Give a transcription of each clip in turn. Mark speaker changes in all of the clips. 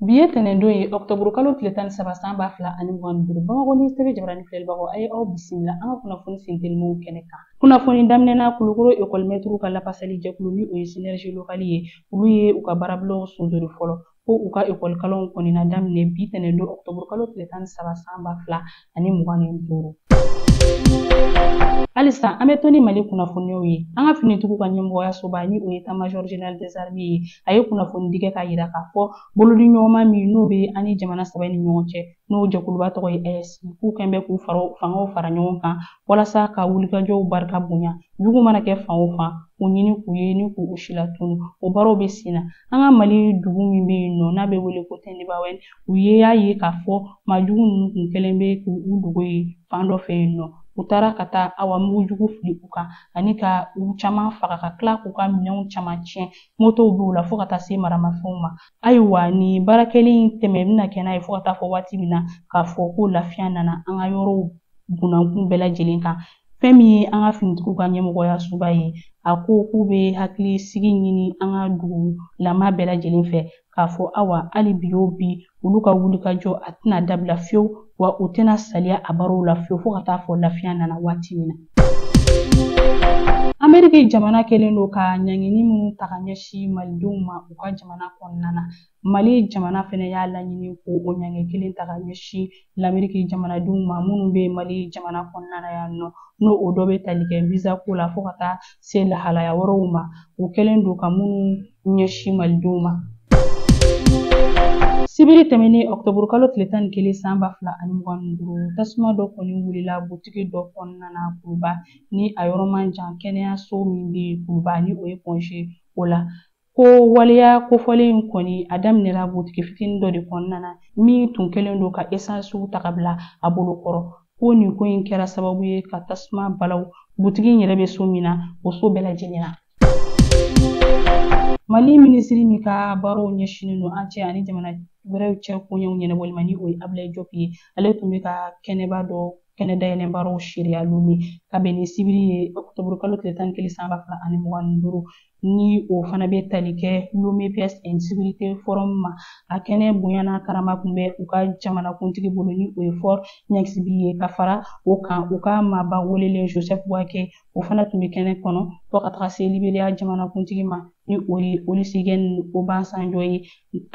Speaker 1: Bi ye tɛnɛndon ye ɔkutɔburu kalo tile tan ni saba san ba fila ani mugan ni duuru Bamakɔ News TV jabarani filɛlibagaw a ye aw bisimila an ka kunnafoni sentelimanw kɛnɛ kan. Kunnafoni daminɛna Kulukoro ekɔlimɛtiriw ka lafasali jɛkulu ni o ye Synergie Locale ye olu ye u ka baarabilaw sonsori fɔlɔ ko u ka ekɔlikalanw kɔnina daminɛ bi tɛnɛndon ɔkutɔburu kalo tile tan ni saba san ba fila ani mugan ni duuru. Halisa an bɛ to ni Mali kunnafoniyaw ye, an ka finitigiw ka ɲɛmɔgɔyasoba ni o ye État Major General des Armées ye, a ye kunnafoni di kɛ k'a yira k'a fɔ bolodi ɲɔgɔnma min n'o bɛ an ni jamana saba in ni ɲɔgɔn cɛ, n'o jɛkuluba tɔgɔ ye AES, k'u kɛlen bɛ k'u fangaw fara ɲɔgɔn kan walasa ka wulikajɔw barika bonya, jugu mana kɛ fan o fan, k'u ɲini k'u ye ni k'u si latunu. O baaraw bɛ sen na an ka Mali dugu min bɛ yen nɔ n'a bɛ wele ko Tɛndibaawɛni, u ye a ye k'a fɔ maajugu ninnu kun kɛlen bɛ k'u dogo ye fan dɔ fɛ yen nɔ u taara ka taa awa mugujugu fili u kan ani ka u caman faga ka tila k'u ka minɛnw caman tiɲɛ motow b'u la fɔɔ ka taa se maramafɛnw ma ayiwa nin baarakɛli in tɛmɛ bɛna kɛ n'a ye fɔɔ ka taa fɔ waati min na k'a fɔ ko lafiya nana an ka yɔrɔw bunankun bɛɛ lajɛlen kan fɛn min ye an ka finitigiw ka ɲɛmɔgɔyasoba ye a ko k'u bɛ hakilisigi ɲini an ka dugulama bɛɛ lajɛlen fɛ k'a fɔ awa hali bi o bi olu ka wulikajɔ a tɛna dabila fiyewu wa u tɛna saliya a baaraw la fiyewu fo ka taa fɔ lafiya nana waati min na ameriki jamana kɛlen don ka ɲangini minnu ta ka ɲɛsin malidenw ma u ka jamana kɔnɔna na mali jamana fɛnɛ y'a laɲini ko o ɲangi kelen ta ka ɲɛsin lameriki jamanadenw ma minnu bɛ mali jamana kɔnɔna na yan nɔ n'o o dɔ bɛ tali kɛ visa ko la fo ka taa se lahalaya wɛrɛw ma u kɛlen don ka minnu ɲɛsin malidenw ma sibiri tɛmɛnen ɔkutɔburu kalo tile tan ni kelen san ba fila ani mugan ni duuru tasuma dɔ kɔni wulila butigi dɔ kɔnɔna na kuluba ni a yɔrɔ man jan kɛnɛyaso min bɛ kuluba ni o ye pɔnze o la Ko waleya kofɔlen in kɔni a daminɛra butigi fitinin dɔ de kɔnɔna na min tun kɛlen don ka esansiw ta ka bila a bolo kɔrɔ ko nin ko in kɛra sababu ye ka tasuma bala o butigi in yɛrɛ bɛ so min na o so bɛɛ lajɛlen na mali minisiri min ka baaraw ɲɛsinnen don an cɛ ani jamana wɛrɛw cɛ koɲɛw ɲɛnabɔli ma ni o ye abilayi jɔpi ye ale tun bɛ ka kɛnɛba dɔ kɛnɛ dayɛlɛ baaraw seereya lome ka bɛn ni sibiri ye ɔkutɔburu kalo tile tan ni kelen san ba fila ani mugan ni duuru ni o fana bɛ tali kɛ Lomé Peace and Security Forum ma a kɛnɛ bonya n'a karama tun bɛ u ka jamanakuntigi bolo ni o ye Faure Gnassingbé ye ka fara o kan u ka maaba welelen Joseph Boakai o fana tun bɛ kɛnɛ kɔnɔ fo ka taga se liberiya jamanakuntigi ma ni o ye Olusegun Obasanjo ye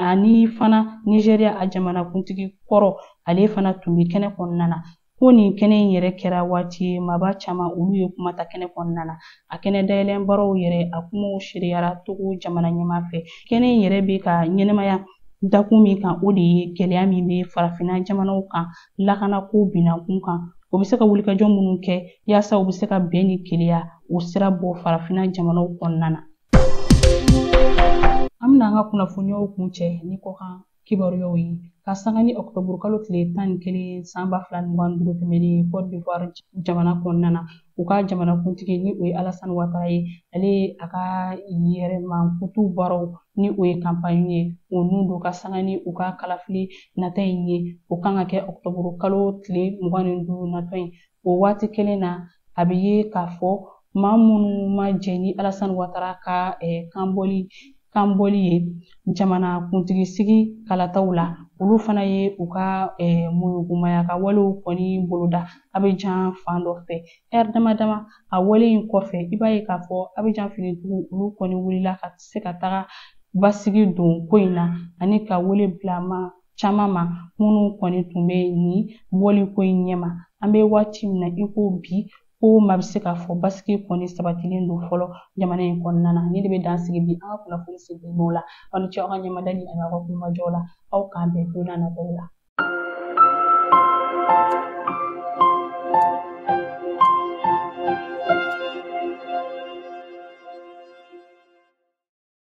Speaker 1: ani fana nizeriya a jamanakuntigi kɔrɔ ale fana tun bɛ kɛnɛ kɔnɔna na Ko nin kɛnɛ in yɛrɛ kɛra waati ye maaba caman olu ye kuma ta kɛnɛ kɔnɔna na a kɛnɛ dayɛlɛn baaraw yɛrɛ a kumaw seereyara togo jamana ɲɛmaa fɛ kɛnɛ in yɛrɛ bɛ ka ɲɛnamaya dakun min kan o de ye gɛlɛya min bɛ farafinna jamanaw kan lakanako binakun kan o bɛ se ka wulikajɔ minnu kɛ yaasa u bɛ se ka bɛn ni keleya o sira bɔ farafinna jamanaw kɔnɔna na an bɛna an ka kunnafoniyaw kuncɛ ni kɔkan kibaruyaw ye ka sanga ni ɔkutɔburu kalo tile tan ni kelen san ba fila ni mugan ni duuru tɛmɛnen ye cote d'ivoire jamana kɔnɔna na u ka jamanakuntigi ni o ye alasani watara ye ale ye a ka yɛrɛmankutu baaraw ni o ye kanpaɲi ye o nun don ka sanga ni u ka kalafili nata in ye o kan ka kɛ ɔkutɔburu kalo tile mugan ni duuru natɔ in o waati kelen na a bɛ ye k'a fɔ maa minnu ma jɛn ni Alasani Watara ka kanbɔli kanbɔli ye jamana kuntigi sigi kalataw la olu fana ye u ka muyugumaya ka walew kɔni boloda Abijan fan dɔ fɛ lɛri dama dama a wale in kɔfɛ i b'a ye k'a fɔ Abijan finitigiw olu kɔni wulila ka se ka taga basigi don ko in na ani ka wele bila maa caman ma minnu kɔni tun bɛ nin bɔli ko in ɲɛma an bɛ waati min na i ko bi ko maa bɛ se k'a fɔ basigi kɔni sabatilen don fɔlɔ jamana in kɔnɔna na nin de bɛ dan sigi bi an ka kunnafoni sigi n'o la aw ni ce aw ka ɲɛmadali an'aw ka tulomajɔ la aw k'an bɛn don n'a nataw la